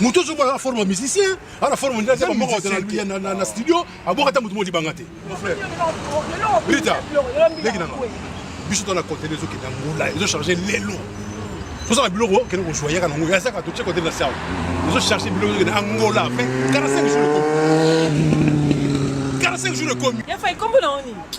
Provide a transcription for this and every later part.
moto ozo bala forme musicien ala forme ndia zema moko ya na na studio aboka ta moto modi banga te mon frère Rita leki nanga biso to na contenu ezo kenda ngola ezo charger lelo toza na biloko kende kozwa yaka nango ya saka totie kote na sawa ezo charger biloko ezo kende angola pe 45 jours ekomi 45 jours ekomi ya fa ikombo na oni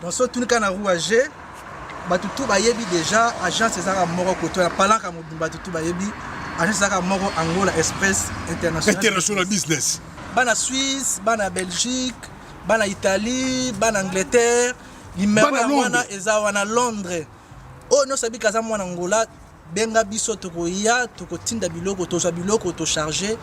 tosotunika na rouage bato tu bayebi déjà agence ezalaka moko koto ya palaka mobimba bato tu bayebi agence ezalaka moko angola express international business bana suisse bana belgique bana italie bana angleterre limero ya wana eza wana londres oyo oh, nyonso abika aza mwana angola benga biso tokoya tokotinda biloko tozwa biloko tocharge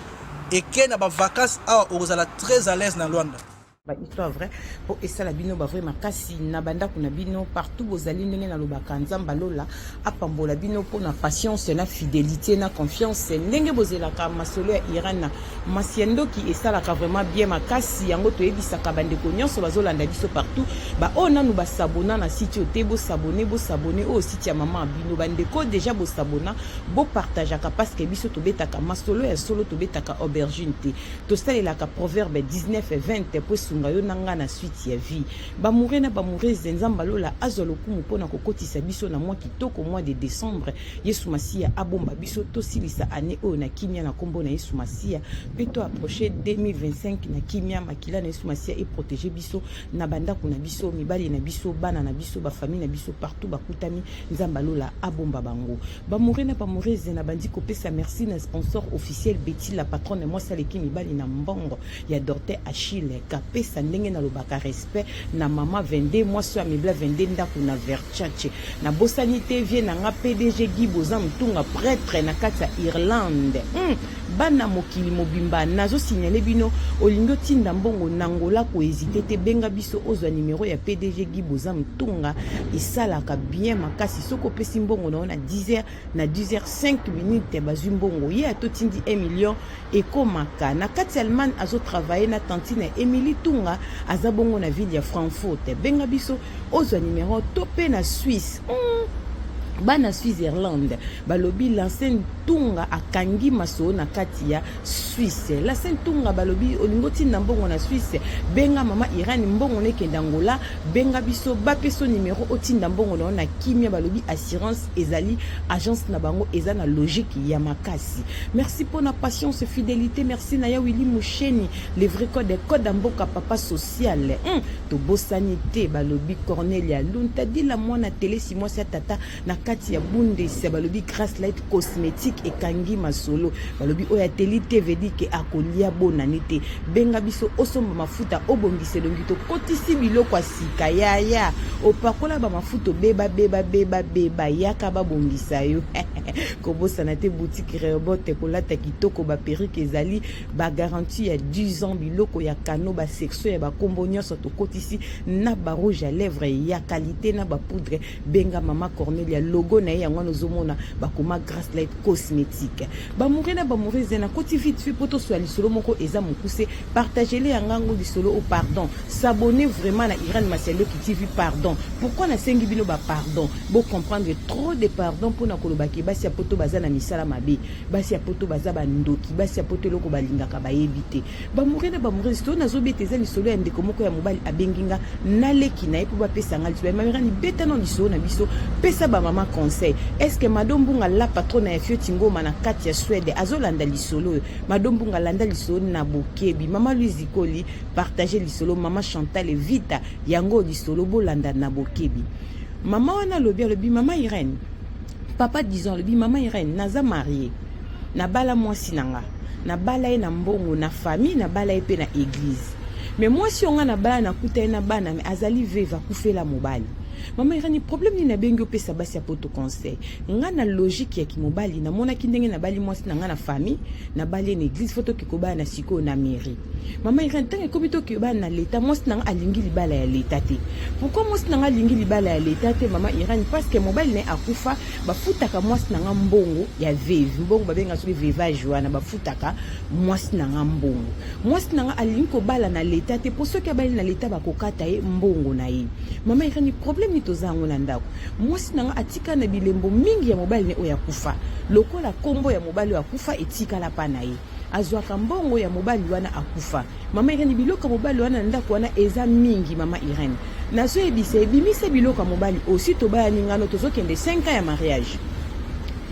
eke na bavacance awa okozala très à l'aise na lwanda ba histoire vrai po esala bino ba vrai makasi na bandako na bino partout bozali ndenge nalobaka nzambe lola apambola bino mpo na patience na fidelité na confiance ndenge bozelaka masolo ya iran na masi ya ndoki esalaka vraiment bien makasi yango toyebisaka bandeko nyonso bazolanda biso partout baoyo oh, nanu basabona na site oyo te bosabone bosabone oyo oh, site ya mama bino bandeko deja bosabona bopartageaka parceke biso tobetaka masolo ya solo tobetaka aubergine te tosalelaka proverbe 19 20 mpo esunga yo na ngai na suite ya vie bamoure na bamourese nzambe alola azwa lokumu mpo na kokotisa biso na mwa kitoko mwa de décembre yesu masiya abomba biso tosilisa ane oyo na kimia na nkombo na yesu masiya mpe to approche 2025 na kimia makila na yesu masiya eprotege biso na bandako na biso mibali na biso bana na biso bafamille na biso partout bakutami nzambe alola abomba bango Ba Bamore na bamoreze na bandi kopesa merci na sponsor officiel Betty la patronne mwasi aleki mibali na mbongo ya Dorte Achille kapesa ndenge na lobaka respect na mama 22 mwasi ya mibla 22 ndako na Versace na bosani te vie na nga PDG Guy Boza Mtunga prêtre na kati ya Irlande hmm. bana mokili mobimba nazo signale bino olingi otinda mbongo na ngola koezite te benga biso ozwa numero ya PDG Guy Boza Mtunga esalaka bien makasi soki opesi mbongo na yo na 10 heures na 10 heures 5 minutes bazwi mbongo ye atotindi 1 million ekomaka na kati ya allemagne azotravaille na tantine ya emily tunga aza bongo na ville ya frankfurt benga biso ozwa numero to mpe na suisse mm. bana switzerland balobi lansen tunga akangi masolo na kati ya Suisse la sainte tonga balobi olingi otinda mbongo na Suisse benga mama Irène mbongo nekende Angola benga biso bapeso numero otinda mbongo na yo na kimia balobi assurance ezali agence na bango eza na logique ya makasi merci mpo na patience fidelité merci na ya Willy Musheni le vrai code code ya mboka papa social hmm, tobosani te balobi Cornelia Luntadila mwana telesi mwasi ya tata na kati ya bundesi ya balobi grace light cosmétique ekangi masolo balobi oyo ateli te vedi ke akolia bonane te benga biso osomba mafuta obongisa elongi tokotisi biloko ya sika yaya opakola bamafuta obeba beba beba beba yaka babongisa yo kobosana te boutique reobot kolata kitoko baperike ezali bagarantie ya 10 ans biloko ya kano basection ya bakombo nyonso tokotisi na barouge ya lèvre ya kalite na bapoudre benga mama cornelia logo na ye yango wana ozomona bakoma grace light cosmétique bamoure na bamoure eza na koti vite fait mpo toswa lisolo moko eza mokuse partagele ya ngango lisolo o oh, pardon s'abonne vraiment na iran masialoki tv pardon pourquoi nasengi bino bapardon bocomprendre trop de pardon mpo na koloba ke basi ya poto baza na misala mabe basi ya poto baza bandoki basi ya poto eloko balingaka bayebi te bamore na bamorese to nazobeta eza lisolo ya ndeko moko ya mobali abengi nga naleki na ye mpo bapesa nga lisolo mamirani beta na lisolo na biso pesa bamama conseil estce mado mbunga la patrona ya fioti ngoma na kati ya swede azolanda lisolo oyo mado mbunga landa lisolo na bokebi mama louise ikoli partage lisolo mama chantal vita yango lisolo bolanda na bokebi mama wana alobi alobi mama irene Papa disons alobi mama Irène naza marie nabala mwasi na nga nabala ye na mbongo na famille nabala ye mpe na eglize me mwasi oyo nga nabala nakuta ye na bana me azali veve akufela mobali mama irani problème nini nabengi opesa basi ya poto conseil nga na logique ya kimobali namonaki ndenge nabali mwasi na nga na famille nabali ye na eglise fo toke kobala na sikoyo na mairie mama irene ntango ekomi tokeyo bana na leta mwasi na nga alingi libala ya leta te pourkui mwasi na nga alingi libala ya leta te mama irene parceke mobali na ye akufa bafutaka mwasi na nga mbongo ya veve mbongo babenga soki vevage wana bafutaka mwasi na nga mbongo mwasi na nga alingi kobala na leta te mpo soki abali na leta bakokata ye mbongo na ye mama irene problème nini toza yango na ndako mwasi na nga atika na bilembo mingi ya mobali na ye oyo akufa lokola nkombo ya mobali oyo akufa etikala mpa na ye azwaka mbongo ya mobali wana akufa. Mama Irene, biloko ya mobali wana na ndako wana eza mingi. Mama Irene, nazoyebisa ebimisa biloko ya mobali osi tobayani ngano tozokende 5 ans ya mariage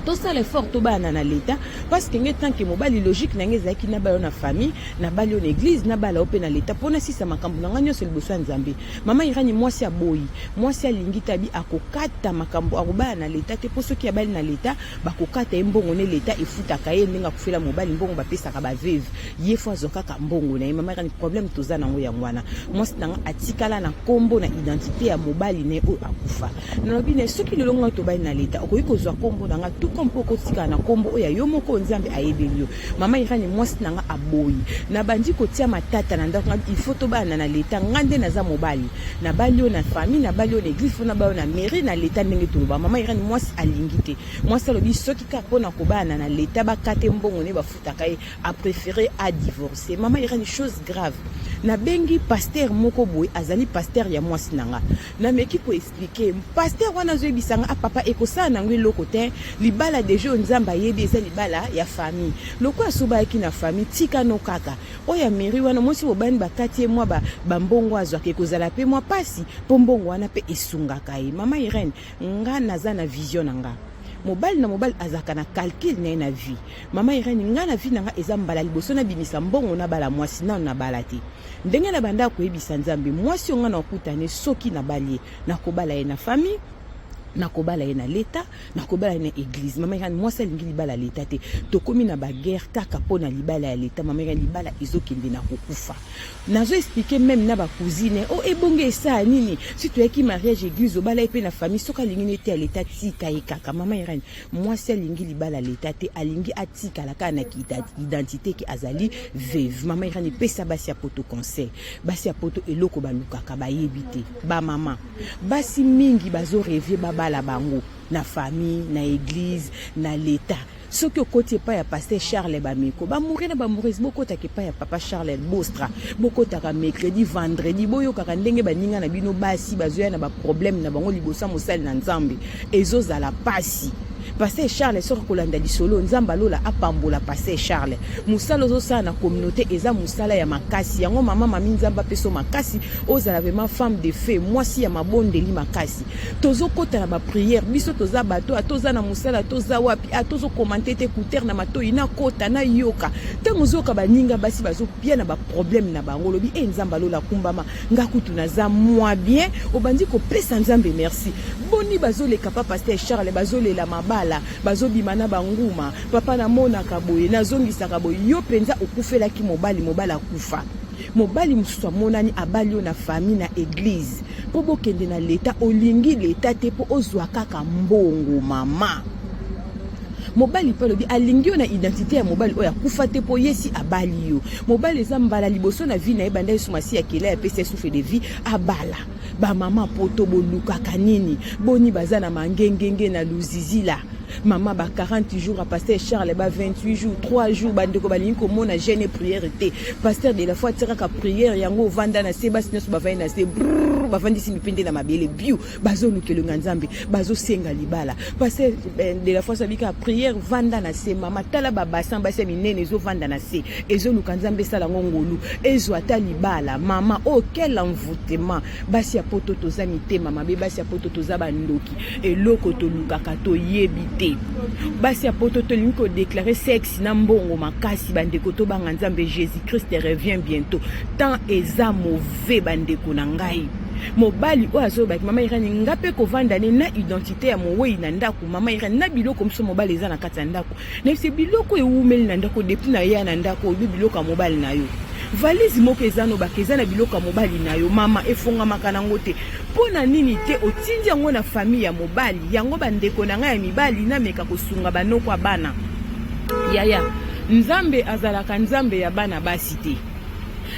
tosala effort tobayana na leta parce que ngai tanke mobali logique na ngai ezalaki nabala yo na famille nabali yo na église nabala yo mpe na leta mpo nasisa makambo na ngai nyonso liboso ya nzambe mama irani mwasi aboyi mwasi alingi tabi akokata makambo akobala na leta te mpo soki abali na leta Bakokata ye mbongo ne l'etat efutaka ye ndenge akufela mobali mbongo bapesaka ba veuve ye fo azwa kaka mbongo na ye mama erani problème toza na yango yango wana mwasi na nga atikala na kombo na identité ya mobali na ye oyo akufa nalobi na ye soki lelo ngai tobali na l'etat okoki kozwa kombo na nga tout comme mpo okotikala na kombo oyo ya yo moko nzambe ayebeli yo Mama Irene, mwasi na nga aboyi, nabandi kotia matata na ndako ngai, il faut tobalana na leta. Ngai nde naza mobali, nabali yo na famille, nabali yo na eglise, faut nabali yo na mairie, na leta, ndenge toloba. Mama Irene, mwasi alingi te. Mwasi alobi soki kaka mpo na kobalana na leta, bakate mbongo ne bafutaka ye, a préféré a divorcer. Mama Irene, chose grave, nabengi pasteur moko boye, azali pasteur ya mwasi na nga, nameki ko expliquer pasteur wana azoyebisa nga ah papa ekosala nango eloko te libala deja oyo nzambe ayebi eza libala ya famille lokola asobayaki na famille tika no kaka oyo ya mairie wana mwasi bobani bakati ye mwa bambongo azwaka ekozala mpe mwa mpasi mpo mbongo wana mpe esungaka ye mama irene nga naza na vision na nga mobali na mobali azalaka na calcul na ye na vie mama irene ngai na vie na ngai eza mbala liboso nabimisa mbongo nabala mwasi nano nabala te Ndenge na banda koyebisa Nzambe, mwasi onga na okutane soki na balie, na kobala ye na famille, nakobala ye na leta nakobala ye na eglise mama ekani mwasi alingi libala ya leta te tokómi na baguerre kaka mpo na libala ya leta mama ekani libala ezokende na kokufa nazo explike meme na bacousine o oh, ebonge esaa nini si toyaki mariage eglise obala ye mpe na famille soki alingi na ete ya leta tika ye kaka mama ekani mwasi alingi libala leta te alingi atikala kaka na identité ke azali veve mama irani pesa basi ya poto conseil basi ya poto eloko balukaka bayebi te bamama basi mingi bazorevie babala bango na famille na eglize na leta soki okoti epai ya paster charles bameko bamoure na bamourese bokotaka epai ya papa charles bostra bokotaka mercredi vendredi boyokaka ndenge baninga na bino basi bazoya na baproblème na bango liboso ya mosali na nzambe ezozala pasi Pasteur Charles soki kolanda lisolo Nzamba lola apambola Pasteur Charles musala ozosala na communauté eza musala ya makasi yango mama mami Nzamba peso makasi ozala vraiment femme de feu mwasi ya mabondeli makasi tozokota na ba prière biso toza bato atoza na musala toza wapi atozo commenter te écouteur na matoyi na kota na yoka ntango ozoyoka baninga basi bazopia na ba problème na bango olobi e eh, Nzamba lola kumbama nga kutu naza mwa bien obandi kopesa nzambe merci boni bazoleka pa paster charles bazolela mabala bazobima na banguma papa namonaka boye nazongisaka boye yo mpenza okufelaki mobali mobali akufa mobali mosusu amonani abali yo na famille na eglize mpo bokende na leta olingi leta te mpo ozwa kaka mbongo mama mobali mpe alobi alingi yo na identite ya mobali oyo akufa te mpo yesi abali yo mobali eza mbala liboso na vie na ye banda yesu masiya akela ya pesa souffle de vie abala bamama poto bolukaka nini boni baza na mangengenge na luzizila mama ba 40 jours ya paster charles ba 28 jours 3 jours bandeko balingi komona jeune e priere te paster de la foi atia kaka priere yango ovanda na se basi nyonso bavandi na se bavandisi mipende na mabele bio bazolukela nga nzambe bazosenga libala pase eh, de la fois abika prière vanda na se mama tala babasin basi ya minene ezovanda na se ezoluka nzambe esala yango ngolu ezwa ata libala mama oyo oh, quel envoutement basi ya poto toza mitema mabe basi ya poto toza bandoki eloko tolukaka toyebi te basi ya poto tolingi kodeklare sexe na mbongo makasi bandeko tobanga nzambe jésus christ revient bientôt temps eza mauvais fe bandeko na ngai mobali oyo azolobaki mama irani nga mpe kovanda ne na identité ya mowei na ndako mama irani na biloko mosusu mobali eza na kati ya ndako nayebisi biloko ewumeli na ndako depuis na ya na ndako oyo biloko ya mobali na yo valise moko eza nobaka eza na biloko ya mobali na yo mama efongamaka nango te mpo na nini te otindi yango na famille ya mobali yango bandeko na ngai ya mibali nameka kosunga banoko ya bana yaya nzambe azalaka nzambe ya bana basi te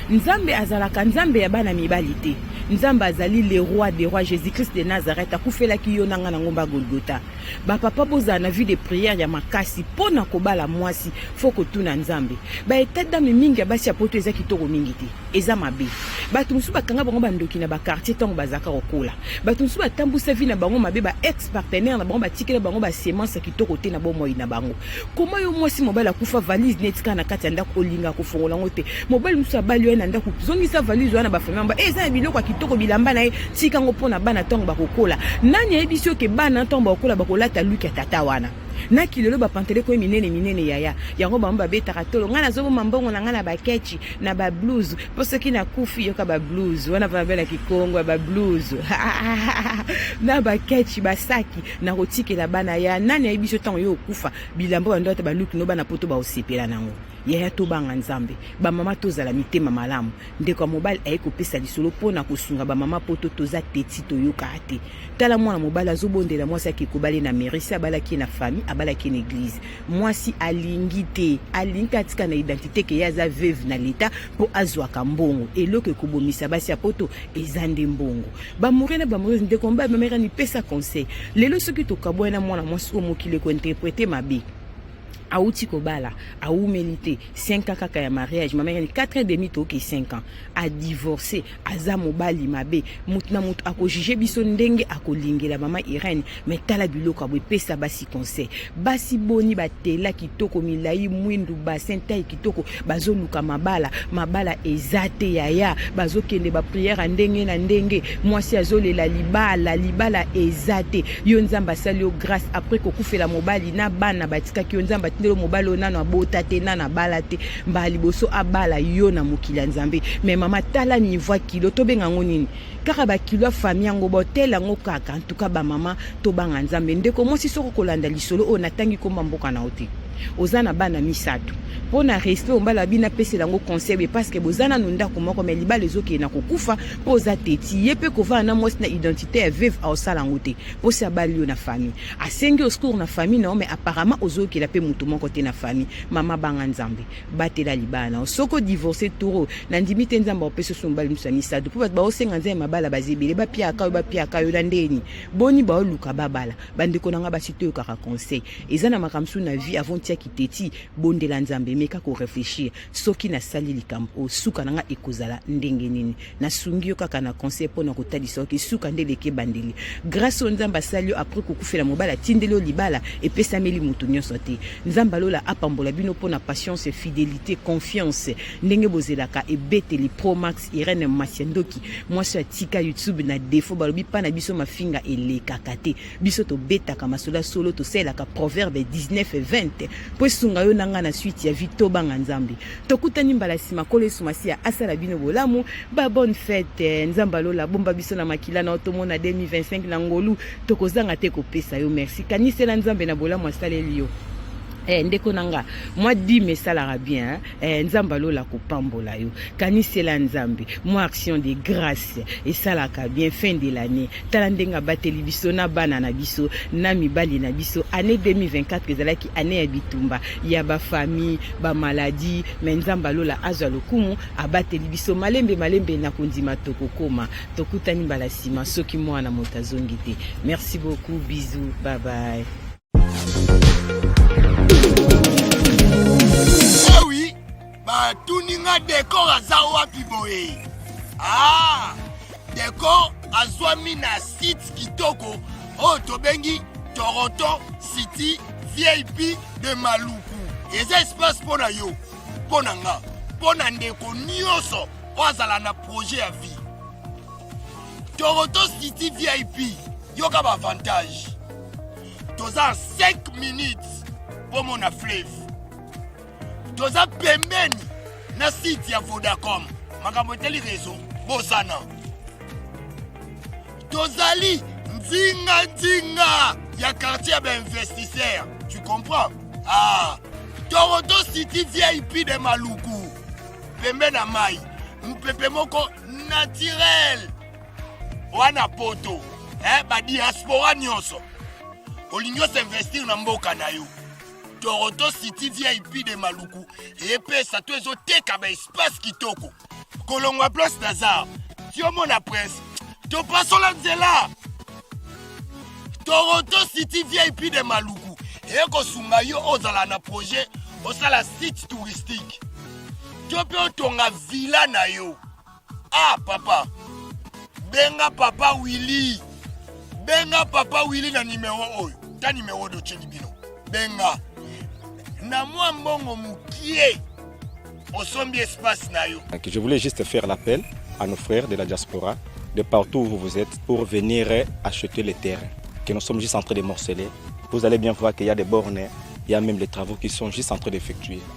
Nzambe azalaka Nzambe ya bana mibali te. Nzambe azali le roi des rois Jésus-Christ de Nazareth akufelaki yo na nga na ngomba Golgotha. Ba papa bozala na vie de prière ya makasi mpo na kobala mwasi fo kotuna Nzambe. Ba etat d'âme mingi ya basi ya poto eza kitoko mingi te, eza mabe. Bato mosusu bakanga bango bandoki na ba quartier ntango bazalaka kokola. Bato mosusu batambusa vie na bango mabe, ba ex partenaire na bango batikela bango ba semence ya kitoko te na bomoi na bango. koma yo mwasi mobali akufa valise neti kaka na kati ya ndako olinga kofongola yango te mobali mosusu abali yo ye na ndako zongisa valise oya na bafamille yango e eh, eza na biloko ya kitoko bilamba na ye tika yango mpo na bana ntango bakokola nani ayebisi yo ke bana ntango bakokola bakolata luki ya tata wana na kilelo bapantele koye minene minene yaya yango bango babetaka tolo ngai nazoboma mbongo na ngai na bakechi na bablouse mpo soki nakufi yoka bablouse wana mpona bela kikongo ya bablouse na bakechi basaki na kotikela bana ya nani ayebi biso ntango yo okufa bilamba oyo yandoata baluki no bana poto baosepela nango yaya tobanga nzambe bamama tozala mitema malamu ndeko ya mobali aye kopesa lisolo mpo na kosunga bamama poto toza teti toyokaka te tala mwana mobali azobondela mwasi ake kobale na merisi abalaki ye na famille abalaki ye na eglize mwasi alingi te alingi te atika na identité ke ye aza veuve na leta po azwaka mbongo eloko ekobomisa basi ya poto eza nde mbongo bamore na bamore nde komba bamera nipesa conseil lelo soki tokabwani na mwana mwasi oyo mokili ekointerprete mabe awuti kobala awumeli te 5 ans kaka ya mariage mama yani 4 ans demi toke 5 ans adivorce aza mobali mabe moto na moto akojuge biso ndenge akolingela mama irene me tala biloko ya boepesa basi conseil basi boni batela kitoko milai mwindu basin tai kitoko bazoluka mabala mabala eza te yaya bazokende bapriere ya ndenge na ndenge mwasi azolela libala libala eza te yo nzambe asali yo grâce après kokufela mobali na bana batikaki yo nzambe atindelo mobali oyo nano abota te nano abala te mbala liboso abala yo na mokili ya nzambe me mama tala niveau ya kilo tobenga yango nini kaka bakilo ya fami yango botele yango kaka antuka bamama tobanga nzambe ndeko mwasi soko kolanda lisolo oyo natangi komba mboka na yo te oza na bana misato mpo na respect ombala bino apesela yango conseil boye parceke boza nanu ndako moko mai libala ezokende na kokufa mpo oza teti ye mpe kovanda na mwasi na identité ya veve aosala yango te mposi abali yo na famille asengi oscour na famille nao mais apparemment ozoyokela mpe moto moko te na famille mama banga nzambe batela libala nao soki odivorce toro nandimi te nzambe aopesi oso mobali mosusu ya misato mpo bato baosenga nzambe mabala baza ebele bapiaka yo bapiaka yo na ndeni boni baoluka babala bandeko na ngai basi toyokaka conseil eza na makambo mosusu na vie avant tia kiteti bondela nzambe meka koreflechir soki nasali likambo oyo suka na ngai ekozala ndenge nini nasungi yo kaka na conseil mpo na kotalisa yo kisuka nde eleki ebandeli grâce oyo nzambe asali yo apres kokufela mobali atindeli yo libala epesameli moto nyonso te nzambe alola apambola bino mpo na patience fidelité confiance ndenge bozelaka ebeteli promax irene masia ndoki mwasi oyo atika youtube na defo balobi mpa na biso mafinga elekaka te biso tobetaka masolo ya solo tosalelaka proverbe 19 20 mpo esunga yo na ngai na suite ya vie tobanga nzambe tokutani mbala nsima nkolo yesu masiya asala bino bolamu ba bonne fete nzambe alola bomba biso na makila na otomona 2025 na ngolu tokozanga te kopesa yo merci kanisela nzambe na bolamu asaleli yo Eh, ndeko na nga mwa dime esalaka bien eh, nzambe alola kopambola yo kanisela nzambe mwa action de grâce esalaka bien fin de l'année tala ndenge abateli biso na bana na biso na mibali na biso année 2024 ezalaki annee ya bitumba ya ba famille ba maladie me nzambe alola azwa lokumu abateli biso malembe malembe na kondima tokokoma tokutani mbala nsima soki mwana moto azongi te merci beaucoup bisous bye bye batuni nga decor aza wapi boye ah, decor azwami na site kitoko oyo tobengi toronto city vip de maluku eza espace mpo na yo mpo na nga mpo na ndeko nyonso oyo azala na projet ya vie toronto city vip yoka baavantage toza 5 minutes bomona flave toza pembeni na site ya vodacom makambo etali rezo bosana tozali nzinganzinga ya quartier ya bainvestisseur tu comprends ah. toronto city vip de maluku pembe na mai mopepe moko naturel wana poto eh, badiaspora nyonso olingi osinvestir na mboka na yo Toronto City VIP de Maluku epesa to ezoteka ba espace kitoko kolongwa place Lazare tiomona prince topasola nzela Toronto City VIP de Maluku ekosunga yo ozala na projet osala site touristique to mpe otonga villa na yo Ah papa, benga papa Willy, benga papa Willy na nimero oyo, ta nimero oyo otyeli bino, benga na mwa mbongo mokie osombi espace na yo. Je voulais juste faire l'appel à nos frères de la diaspora, de partout où vous êtes, pour venir acheter les terrains que nous sommes juste en train de morceler. Vous allez bien voir qu'il y a des bornes, il y a même les travaux qui sont juste en train d'effectuer.